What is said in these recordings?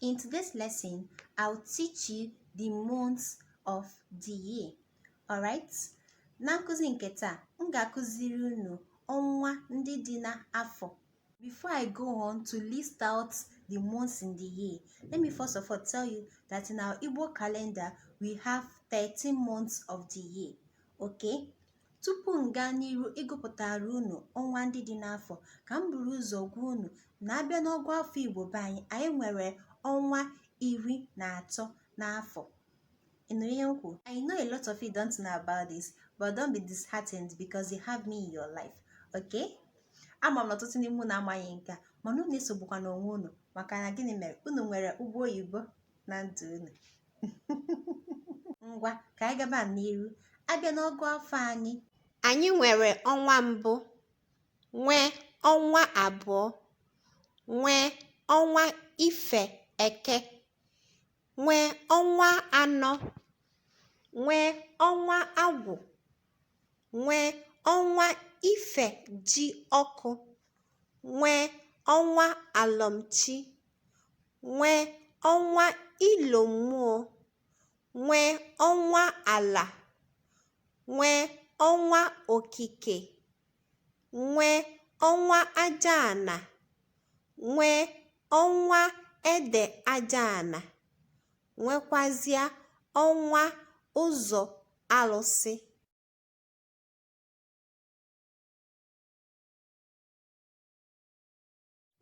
In today's lesson, I'll teach you the months of the year. Alright? Na nkụzi nke taa, m ga-akụziri unu ọnwa ndị dị n'afọ. Before I go on to list out the months in the year, let me first of all tell you that in our Igbo calendar, we have 13 months of the year. Okay? Tupu m gaa n'iru ịgụpụtara unu ọnwa ndị dị n'afọ, ka m buru ụzọ gwa unu na a bịa n'ọgụ afọ Igbo be anyị, anyị nwere ọnwa iri na atọ n'afọ. Ị nụrụ ihe m kwuru? I know a lot of you don't know about this, but don't be disheartened because you have me in your life. Okay? Ama m na ọtụtụ n'ime unu amaghị nke a, mana unu esogbukwana onwe unu maka na gịnị mere unu nwere Ụgbọ Oyibo na ndụ unu. ngwa ka anyị gaba n'iru a bịa n'ọgụ afọ anyị anyị nwere ọnwa mbụ nwee ọnwa abụọ nwee ọnwa ife eke nwee ọnwa anọ nwee ọnwa agwụ nwee ọnwa ifejiọkụ nwee ọnwa alọm chi nwee ọnwa ilo mmụọ nwee ọnwa ala nwee ọnwa okike nwee ọnwa aja ana nwee ọnwa ede aja ana nwekwazịa ọnwa ụzọ alụsị.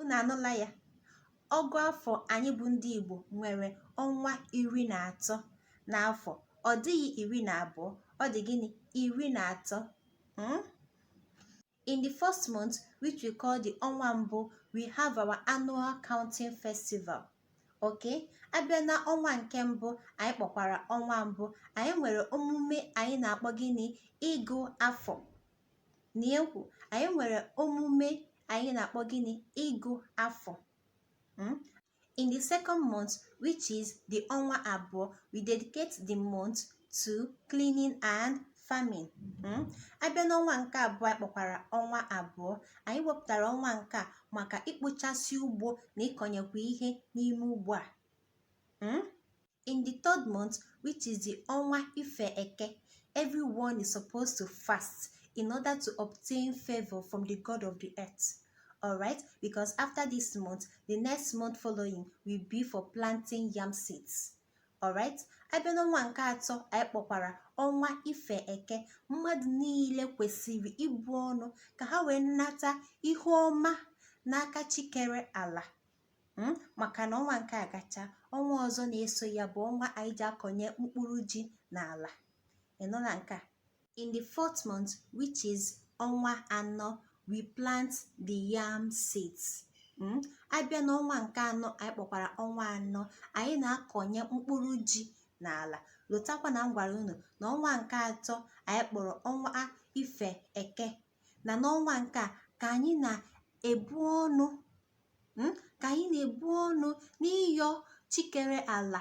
Unu anụla ya? Ọgụ afọ anyị bụ ndị Igbo nwere ọnwa iri na atọ n'afọ. Ọ dịghị iri na abụọ, ọ dị gịnị? Iri na atọ. Hmm? in the first month which we call the ọnwa mbụ we have our annual counting festival okay a bịa na ọnwa nke mbụ anyị kpọkwara ọnwa mbụ anyị nwere omume anyị na-akpọ gịnị ịgụ afọ na-ekwu anyị nwere omume anyị na-akpọ gịnị ịgụ afọ hmm? in the second month which is the ọnwa abụọ we dedicate the month to cleaning and farming hmm? a bịa n'ọnwa nke abụọ anyị kpọkwara ọnwa abụọ anyị wepụtara ọnwa nke a maka ikpochasị ugbo na ịkọnyekwa ihe n'ime ugbo a hmm? in the third month which is the ọnwa ife eke everyone is supposed to fast in order to obtain favor from the god of the earth all right because after this month the next month following will be for planting yam seeds all right a bịa n'ọnwa nke atọ anyị kpọkwara ọnwa ife eke mmadụ niile kwesịrị ibu ọnụ ka ha wee nata ihe ọma n'aka chi kere ala hmm? maka na ọnwa nke a gacha ọnwa ọzọ na-eso ya bụ ọnwa anyị ji akọnye mkpụrụ ji n'ala ịnụla nke a in the fourth month which is ọnwa anọ we plant the yam seeds hmm? abịa n'ọnwa nke anọ anyị kpọkwara ọnwa anọ anyị na-akọnye mkpụrụ ji n'ala lotakwa na m gwara unu na ọnwa nke atọ anyị kpọrọ ọnwa ife eke na n'ọnwa nke a ka anyị na-ebu ọnụ hmm, ka anyị na-ebu ọnụ n'ịyọ chi kere ala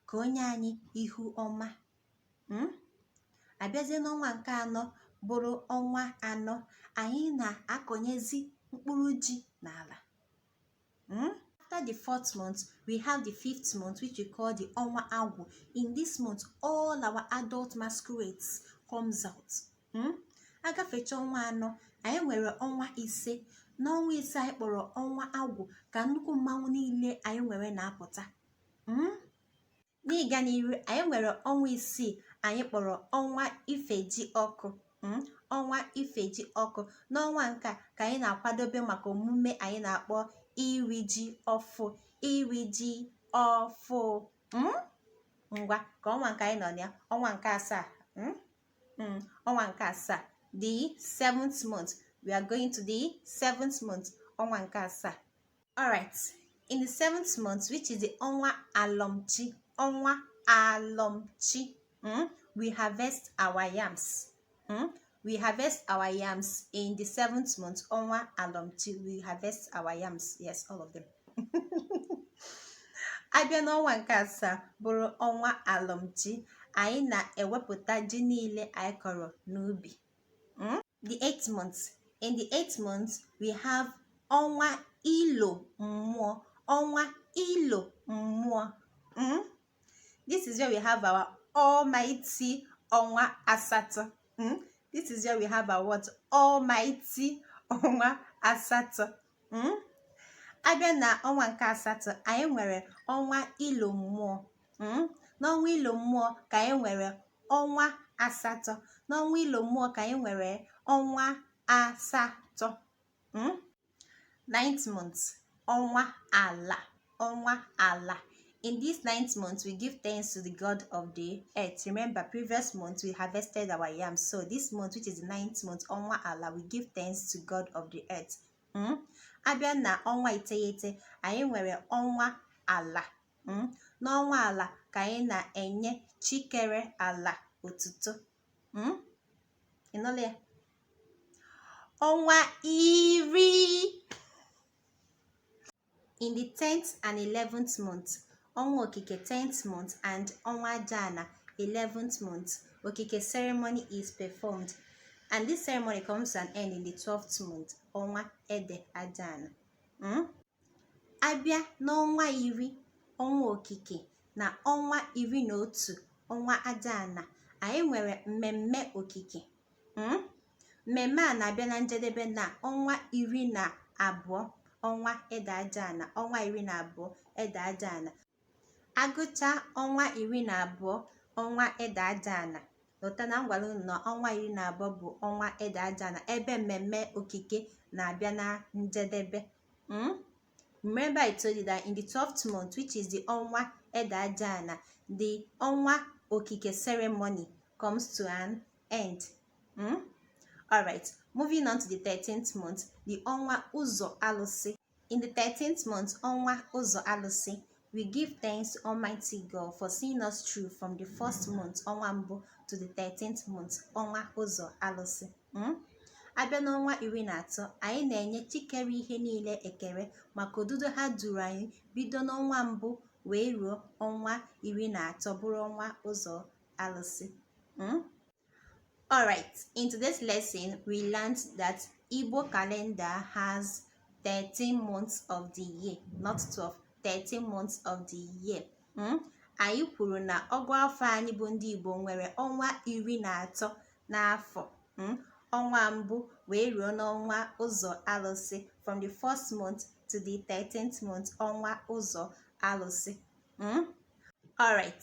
ka o nye anyị ihu ọma hmm, abịazie n'ọnwa nke anọ bụrụ ọnwa anọ anyị na-akọnyezi mkpụrụ ji n'ala hmm, after the fourth month we have the fifth month which we call the ọnwa agwụ in this month all our adult masquerades comes out hmm? agafecha ọnwa anọ anyị nwere ọnwa ise n'ọnwa ise anyị kpọrọ ọnwa agwụ ka nnukwu mmanwụ niile anyị nwere na-apụta hmm? n'ịga n'iru anyị nwere ọnwa isii anyị kpọrọ ọnwa ifejiọkụ hmm? ọnwa ifejiọkụ n'ọnwa nke a ka anyị na-akwadobe maka omume anyị na-akpọ iri ji ọfụ iri ji ọfụ hmm? ngwa ka ọnwa nke anyị nọ na ya ọnwa nke asaa mm, ọnwa nke asaa the seventh month we are going to the seventh month ọnwa nke asaa alright in the seventh month which is the ọnwa alọmchi ọnwa alọmchi mm, we harvest our yams mm, we harvest our yams in the seventh month ọnwa alọmchi we harvest our yams yes all of them abịa n'ọnwa nke asaa bụrụ ọnwa alọmchi anyị na-ewepụta ji niile anyị kọrọ n'ubi hmm? the eighth month in the eighth month we have ọnwa ilo mmụọ ọnwa ilo mmụọ hmm? this is where we have our almighty ọnwa asatọ hmm? this is where we have our what almighty ọnwa asatọ hmm? abịa na ọnwa nke asatọ anyị nwere ọnwa ilo mmụọ hmm? n'ọnwa ilo mmụọ ka anyị nwere ọnwa asatọ n'ọnwa ilo mmụọ ka anyị nwere ọnwa asatọ hmm? ninth month ọnwa ala ọnwa ala in this ninth month we give thanks to the god of the earth remember previous month we harvested our yam so this month which is the ninth month ọnwa ala we give thanks to god of the earth hmm? abịa na ọnwa iteghete anyị nwere ọnwa ala hmm? n'ọnwa ala ka anyị na-enye chi kere ala otuto hmm? ịnụla ya ọnwa iri in the 10th and 11th month ọnwa okike 10th month and ọnwa ajana 11th month okike ceremony is performed and this ceremony comes to an end in the 12th month ọnwa ede ajana hmm? a bịa n'ọnwa iri ọnwa okike na ọnwa iri na otu ọnwa ajana anyị nwere mmemme okike hmm? mmemme a na-abịa na njedebe na ọnwa iri na abụọ ọnwa ede ajana ọnwa iri na abụọ ede ajana a gụcha ọnwa iri na abụọ ọnwa ede ajana lota na m gwara unu na ọnwa iri na abụọ bụ ọnwa ede ajana ebe mmemme okike na-abịa na njedebe hmm? remember i told you that in the 12th month which is the ọnwa ede ajana the ọnwa okike ceremony comes to an end mm? all right moving on to the 13th month the ọnwa ụzọ alụsị in the 13th month ọnwa ụzọ alụsị We give thanks to Almighty God for seeing us through from the first month ọnwa mbụ to the 13th month ọnwa ụzọ alụsị hmm? a bịa n'ọnwa iri na atọ anyị na-enye chi kere ihe niile ekele maka odudu ha duru anyị bido n'ọnwa mbụ wee ruo ọnwa iri na atọ bụrụ ọnwa ụzọ alụsị hmm? alright in today's lesson we learned that Igbo calendar has 13 months of the year not 12 13 months of the year hmm? anyị kwuru na ọgụ afọ anyị bụ ndị Igbo nwere ọnwa iri na atọ n'afọ hmm? ọnwa mbụ wee ruo n'ọnwa ụzọ alụsị from the first month to the 13th month ọnwa ụzọ alụsị hmm? alright